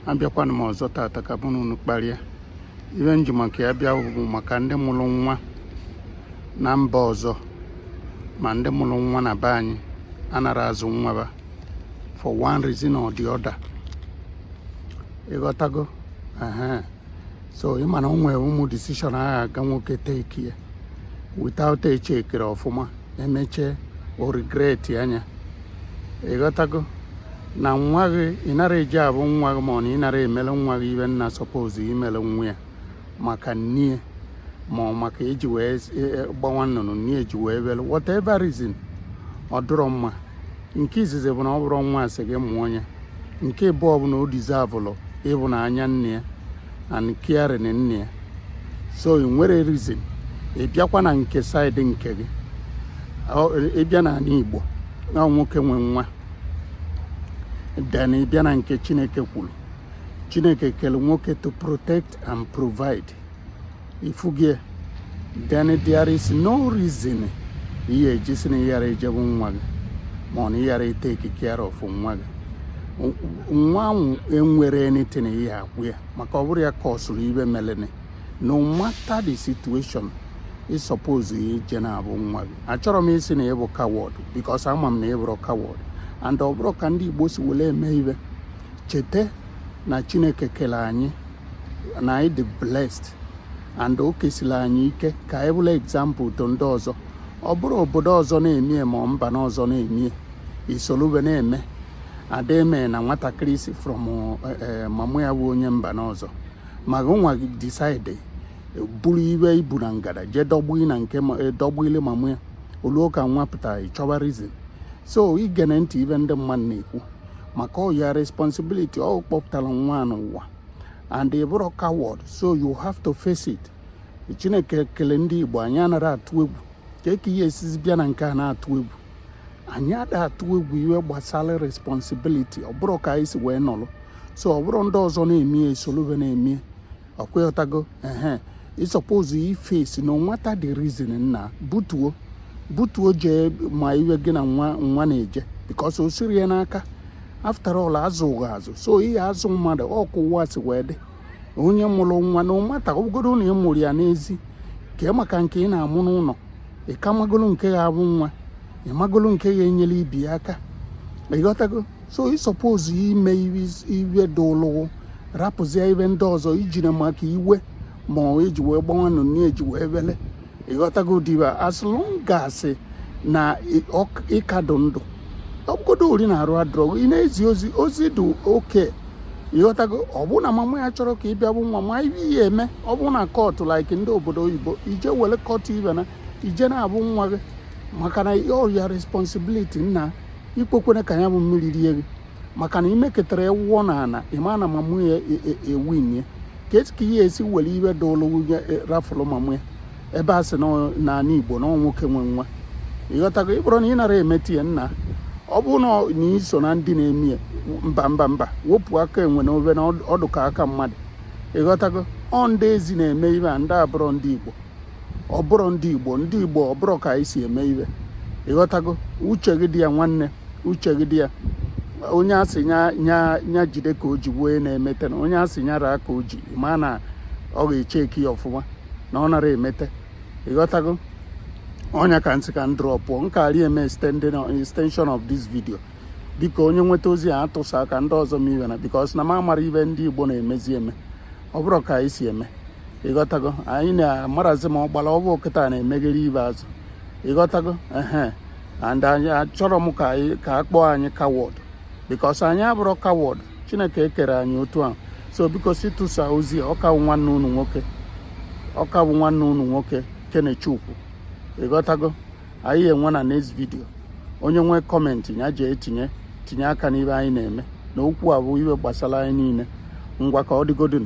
abịakwana m ọzọ tata ka mụ na unu kparịa ife m ji maka ya bịa bụ maka ndị mụrụ nwa na mba ọzọ ma ndị mụrụ nwa na be anyị anarọ azụ nwa ba for one reason or the other ịghọtago so ị ma na o nwere ụmụ decision agha aga nwoke take ya without echekere ọfụma emechaa o regret anya ịghọtago na nwa gị ị narọ eje afụ nwa gị ma ọ na ị narọ emele nwa gị ife nna suppose imele nwa ya maka nne ma ọ maka eji wee e, e, gbawa nnụnụ nne eji wee bele whatever reason ọ dịrọ mma nke izizi bụ na ọ bụrọ nwa a sị gị mụọ ya nke ịbụọ bụ na o deserve-ụlụ ịfụnanya nna ya and caring nna ya so ị nwerọ reason ị bịakwa na nke side nke gị ị bịa n'anị Igbo na nwoke nwe nwa then ị bịa na nke Chineke kwuru Chineke kele nwoke to protect and provide ị fụgo ya then there is no reason ihe e ji sị na ị yarọ eje afụ nwa gị ma ọ na ị yarọ itake care of nwa gị nwa ahụ enwerọ anything ihe akwụ ya maka ọ bụrọ ya cause-ụlụ ife melenụ no matter the situation ị suppose ije na-afụ nwa gị achọrọ m ịsị na ị bụ coward because ama m na ị bụrọ coward and ọ bụrọ ka ndị Igbo si were eme ife cheta na Chineke kele anyị na anyị dị blessed and o kesiri anyị ike ka anyị bụrụ example to ndị ọzọ ọ bụrọ obodo ọzọ na-emie ma mba n'ọzọ na-emie i solu be na-eme ada eme na nwatakịrị si from eh, eh, mama ya bụ onye mba n'ọzọ ma nwa decide buru ife i bu na ngada jee dọbe na nke eh, dọbele mama ya o luo ka nwa pụtara ị chọba reason so igene ntị ife ndị mmadụ na-ekwu maka ọ your responsibility ọ kpọpụtara nwa n'ụwa and ị bụrọ coward so you have to face it chineke kele ndị igbo anyị anarọ atụ egwu kee ka ị ya-esizi bịa na nke a na-atụ egwu anyị ada atụ egwu ife gbasara responsibility ọ bụrọ ka anyị si wee nọrọ so ọ bụrọ ndị ọzọ na-emie i solu be na-emie ọ kwa ị ghọtago ehe ị suppose iface no matter the reason nna butuo butuo jee ma iwe gị na nwa nwa na-eje because o sirọ ya n'aka after all a zụ gị azụ so ị ya-azụ mmadụ ọ ka ụwa si wee dị onye mụrụ nwa no matter ọ bụgodu na ị mụrụ ya n'ezi kee maka nke ị na-amụ n'ụlọ ị ka magolo nke ga-abụ nwa ị magolo nke ga-enyere ibe ya aka ịghọtago so ị suppose ime ive dụlụ wụ rapụzie ive ndị ọzọ ijiri maka ive ma ọ eji wee gbanwe nụ na eji wee wele ịghọtago diba as long as na ị ka dụ ndụ ọ bụgodu ori na arụ adrọ gị na-ezi ozi ozi dị oke ịghọtago ọ bụ na mama ya chọrọ ka ị bịa vụ nwa ma ive ihe eme ọ bụ na kọtụ like ndị obodo oyibo ije were kọtụ ibe na ị je na-avụ nwa gị maka na ọ your responsibility nna ekwekwene ka ya bụ mmiri rie gị maka na imeketara ewụọ na ala ị ma na mama ya ewin e, e ya ka esi ka ihe esi were ive dụlụ nwunye e, rafụlụ mama ya ebe a sị n'ala igbo na nwoke nwe nwa ịghọtago ọ bụrụ na ị nara emete ya nna ọ bụ na i so na ndị na-eme ya mba mba mba wepụ aka enwe n'ove na ọ dụ ka aka mmadụ ịghọtago ọ ndị ezi na-eme ive a ndị abụrọ ndị igbo ọ bụrọ ndị igbo ndị igbo ọ bụrọ ka anyị si eme ive ịghọtago uche gị dị ya nwanne uche gị dị ya onye a sị nya jide ka o ji wee na-emete na onye a sị nya raa ka o ji ma na ọ ga-echeki ya ọfụma na ọ nara emete ịghọtago ọ nya ka m sị ka m drọpụọ m karị eme extension of this video biko onye nweta ozi a tụsa ka ndị ọzọ ma ive na because na m amara ive ndị igbo na-emezi eme ọ bụrọ ka anyị si eme ịghọtago anyị na-amarazi ma ọgbara ọvụụ kịta na-emegheri ive azụ ịghọtago ehe and anyị achọrọ m ka anyị ka a kpọọ anyị coward because anyị abụrọ coward chineke ekerọ anyị otu ahụ so biko si tụsa ozi a ọ ka wụ nwanne unu nwoke ọ ka wụ nwanne unu nwoke kenechukwu ịghọtago anyị enwe na next video onye nwee kọmentị ya jee tinye tinye aka n'ive anyị na-eme na okwu a bụ ive gbasara anyị niile ngwa ka ọ dịgodin